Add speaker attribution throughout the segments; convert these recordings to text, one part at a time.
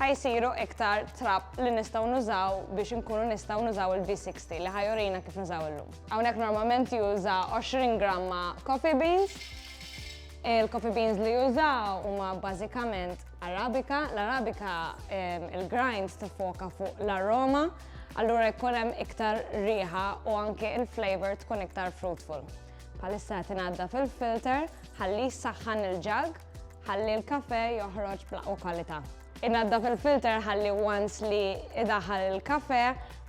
Speaker 1: ħa jsiru iktar trab li nistgħu nużaw biex inkunu nistgħu nużaw il-V60 li ħajurina kif nużaw illum. Hawnhekk normalment juża 20 gramma coffee beans. Il-coffee beans li jużaw huma bażikament Arabika. L-Arabika il-grinds tifoka fuq l-aroma, allura jkun hemm iktar riħa u anke il-flavor tkun iktar fruitful. Bħalissa qed ingħadda fil-filter ħalli jsaħħan il-ġag ħalli l-kafe joħroġ bl-aqwa kwalità. Ingħadda fil-filter ħalli once li idaħal il-kafe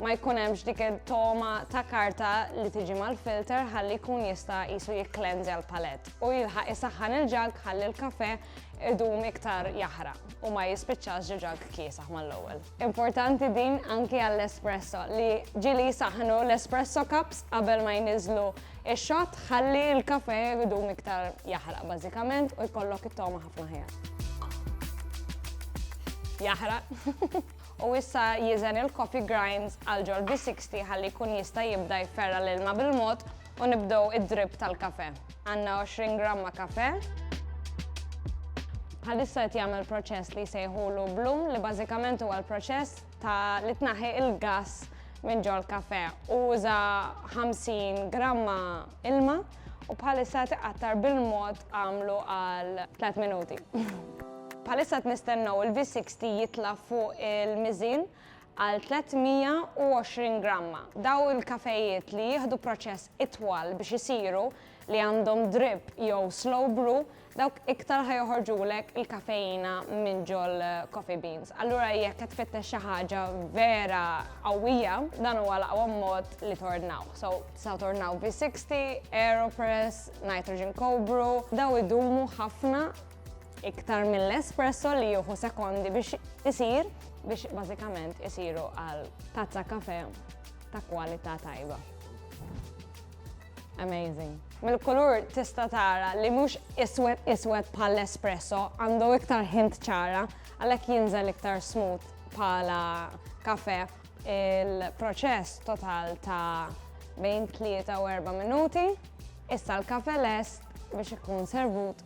Speaker 1: ma jkun hemmx dik il-toma ta' karta li tiġi mal-filter ħalli jkun jista' qisu jikklenżja l-palett u jilħaq isaħħan il-ġag ħalli l-kafe idum iktar jaħraq u ma jispiċċax ġag kiesaħ mal-ewwel. Importanti din anki għall-espresso li ġieli jsaħħnu l-espresso cups qabel ma jniżżlu x-xott ħalli l-kafè jdum iktar jaħraq bażikament u jkollok it-togħma ħafna ħjar. Jaħraq. U issa jiżen il-coffee grinds għal ġol B60 ħalli jkun jista' jibda jferra l-ilma bil-mod u nibdew id-drip tal-kafè. Għandna 20 gramma kafè. Bħalissa qed jagħmel proċess li jsejħulu bloom li bażikament huwa l-proċess ta' li tnaħħi il-gass minn ġol kafè. Uża 50 gramma ilma u bħalissa tiqattar bil-mod għamlu għal 3 minuti. Bħalissa t-nistennaw il-V60 jitla fuq il-mizin għal 320 gramma. Dawn il-kafejiet li jieħdu proċess itwal biex isiru, li għandhom drip jew slow brew, dawk iktar ħa joħorġulek il-kafeina minn ġol-coffee beans. Allura jekk qed tfittex xi ħaġa vera qawwija, dan huwa l-aqwa mod li tordnawh. So, tistgħu tordnaw V60, Aeropress, Nitrogen Cold Brew, dawn idumu ħafna iktar mill-espresso li juhu sekondi biex isir biex bażikament isiru għal tazza kafe ta' kwalità tajba. Amazing. Mill-kulur tista' tara li mhux iswed iswed bħal espresso għandu iktar hint ċara għalhekk jinżel iktar smooth bħala kafe il-proċess total ta' bejn 3 u 4 minuti. Issa l-kafe lest biex ikun servut